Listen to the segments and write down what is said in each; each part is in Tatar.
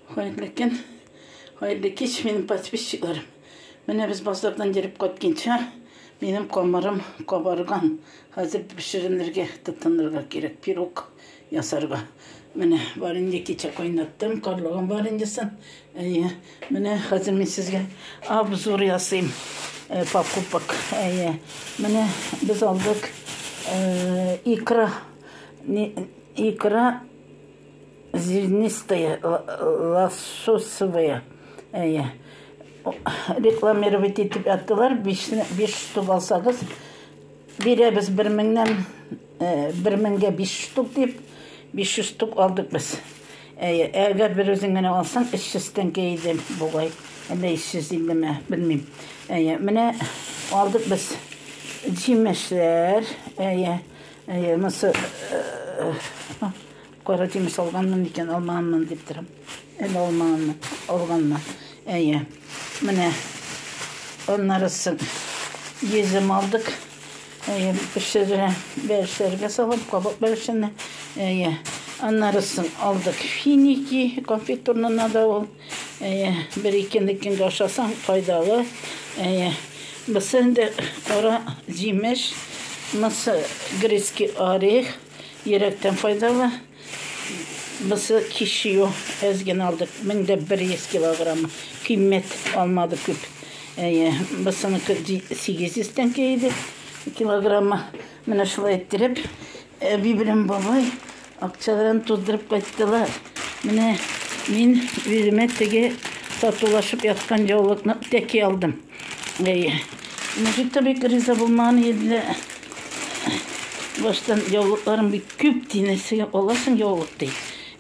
Хәерле көн, хәерле кич, минем подписчикларым. Менә без базардан йөреп кайтканча, минем камырым кабарган. Хәзер пешеренергә тотынырга кирәк, пирог ясарга. Менә варенье кичә кайнаттым, карлыган вареньесын. Әйе, менә хәзер мин сезгә обзор ясыйм э, покупок. Әйе, менә без алдык э, икра, икра Зернистые, лососевые, әйе. Рекламировать итеп яттылар, биш штук алсагыз, бирәбез бер меңнән, э, бер меңгә биш штук дип, биш жүз штук алдык без. Әйе, әгәр бер үзең генә алсаң, өч йөз тәңкә иде бугай, әллә өч йөз иллеме, белмим. Әйе, менә алдык без җимешләр, әйе, әйе, монысы э, Кара кимеш алганмын микән, алмаганмын дип торам. Әле алмаганмын, алганмын. Әйе. Менә аннары соң йөзем алдык. Әйе, пешерә, бәлешәргә салам, кабак бәлешенә. Әйе. Аннары соң алдык финики, конфитурнына да ул. Әйе, бер-ике көнгә ашасаң, файдалы. Әйе. Бысы инде кара җимеш, мысы грецкий орех. Йөрәктән файдалы. Бусы кишью әз генә алдык. 1100 килограмм. Кыйммәт алмады күп. Әйе, бусыны 800 тәңкә иде килограмма. Менә шулай иттереп, әби белән бабай акчаларын туздырып кайттылар. Менә мин үземә теге сатулашып яткан яулыкны тәки алдым. Әйе. Мужик та бик риза булмаган иде дә. Баштан яулыкларың бик күп ди, нәрсәгә аласың яулык ди.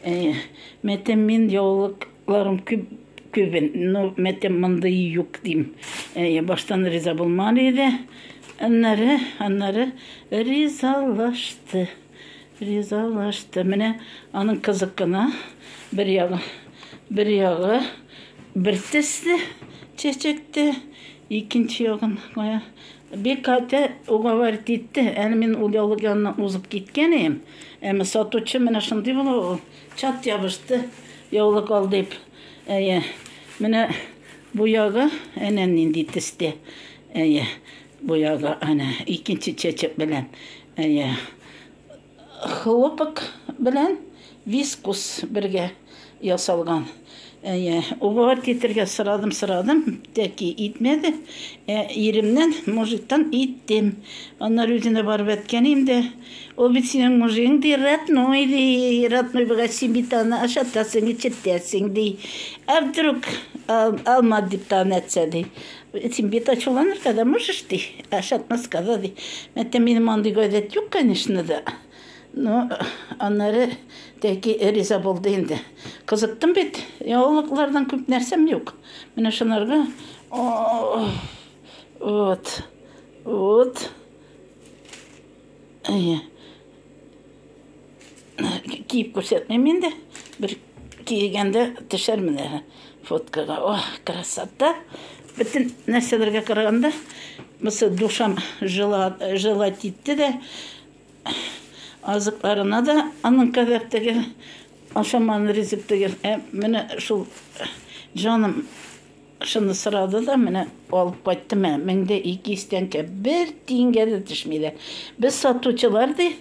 Әйе. Мәтәм мин яулыкларым күп күбен, но мәтәм мондый юк дим. Әйе, баштан риза булмаган иде. Аннары, аннары ризалашты. Ризалашты. Менә аның кызык кына бер ягы, бер ягы бер төсле чәчәктә, икенче ягын кая. Бик каты уговаривать итте. Әле мин ул яулык янына узып киткән идем. Әмма сатучы менә шундый була ул. Чат ябышты яулык ал дип. Әйе. Менә бу ягы әнә нинди төстә. Әйе. Бу язда әнә икенче чәчәк белән, әйе, хлопок белән вискус бергә ясалган. Әйе, уговор итәргә сорадым, сорадым, тәки итмәде. Ә иремнән мужиктан иттем. Аннары үзенә барып әткәнем дә, ул бит синең мужигың ди, родной ди, родной булгач син бит аны ашатасың, эчертәсең ди. Ә вдруг алмады дип тагын әйтсә ди. Син бит ачуланырга да можешь, ди, ә шатна сказал, ди, мәттә минем андый гадәт юк, конечно да, но аннары тәки риза булды инде. Кызыктым бит, яңалыклардан күп нәрсәм юк. Менә шунарга, вот, вот. Әйе. Киеп күрсәтмим инде. Бер кигәндә төшәр менә фоткага. Ох, красота. Бөтен нәрсәләргә караганда, бусы душам жила, жила титте дә, азыкларына да аның кадәр тегел, ашаман ризык тегел. Ә менә шул җаным Шуны сорады да, менә алып кайтты, мә, мең дә ике йөз тәңкә. Бер тиенгә дә төшми дә. Без сатучылар, ди,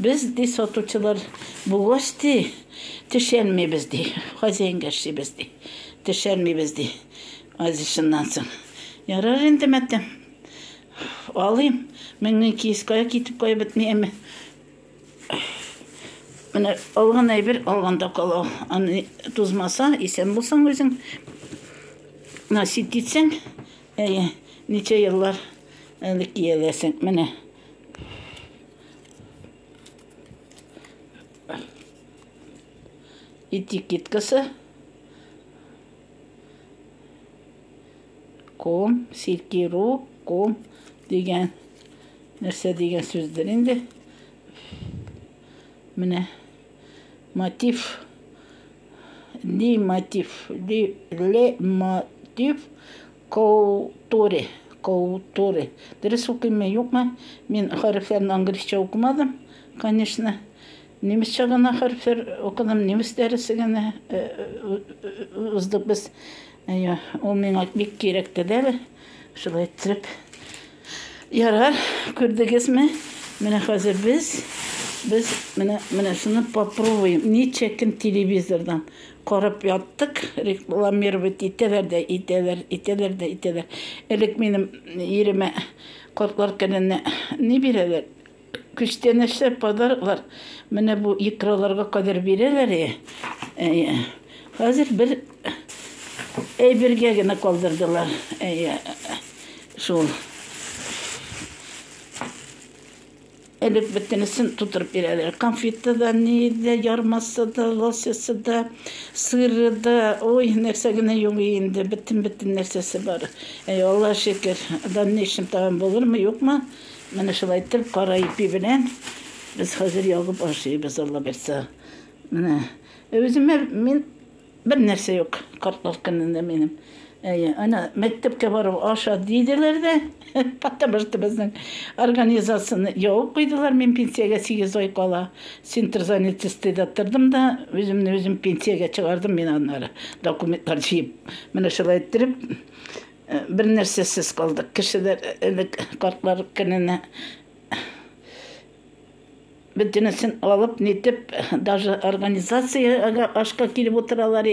без, ди, сатучылар булгач, ди, төшәлмибез, ди, хозяинга эшлибез, ди, төшәлмибез, ди. Азис шуннан соң, Ярар инде, мәтәм, алыйм, мең ике йөз кая китеп, кая бетми, әмма. Менә алган әйбер алганда кала. Аны тузмаса, исән булсаң үзең, насип итсәң, әйе, ничә еллар әле кияләсең. Менә. Этикеткасы. Ком, сикеру, ком дигән нәрсә дигән сүздер инде. Менә мотив ли мотив ли ле мотив культуре культуре. Дөрес укыймы, юкмы? Мин хәрефләрне английсча укымадым, конечно. Немецча гына хәрефләр укыдым, немец дәресе генә уздык без. Әйе, ул миңа бик кирәк тәдәл. Шулай итеп. Ярар, күрдегезме? Менә хәзер без без менә менә шуны попробуем. Ничә көн телевизордан карап яттык, рекламировать итәләр дә итәләр, итәләр дә итәләр. Элек минем иремә кортлар кәленне ни бирәләр? Күчтән эшләп подароклар менә бу икраларга кадәр бирәләр. Әйе. Хәзер бер әйбергә генә калдырдылар. Әйе. Шул. Элек бөтенесен тутырып бирәләр. Конфеты да, ни дә, ярмасы да, лосясы да, сыры да. Ой, нәрсә генә юк инде, бөтен-бөтен нәрсәсе бар. Әй, Аллаһ шөкер. Да ни өчен тагын булырмы, юкмы? Менә шулай итеп, кара ипи белән без хәзер ягып ашыйбыз, Алла бирса. Менә үземә мин бернәрсә юк, картлар көнендә минем. Әйе, әнә мәктәпкә барып аша диделәр дә, потому что безнең организацияне ябып куйдылар. Мин пенсиягә 8 ай кала центр занятости да тордым да, үземне үзем пенсиягә чыгардым мин аннары документлар җыеп. Менә шулай иттереп, Бернәрсәсез калдык. Кешеләр элек картлар көненә бөтенесен алып, нитеп, даже организациягә ашка килеп утыралар.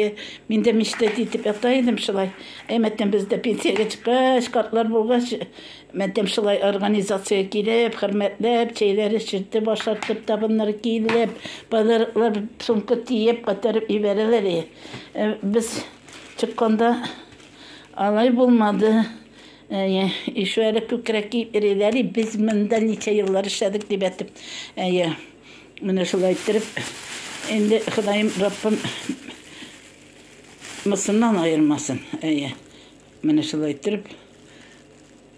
Мин дә мечтать итеп ята идем шулай. Әй, мәтәм без дә пенсиягә чыккач, картлар булгач, мәтәм шулай организациягә килеп, хөрмәтләп, чәйләр эчертеп, ашатып, табыннар киелеп, подароклар сумка тиеп, күтәреп җибәрәләр. Без чыкканда, Алай булмады. Әйе, ише әле күкрәк киеп йөриләр әле, без монда ничә еллар эшләдек дип әйтеп. Әйе, менә шулай иттереп, инде Ходаем, Раббым мысыннан аермасын. Әйе, менә шулай иттереп.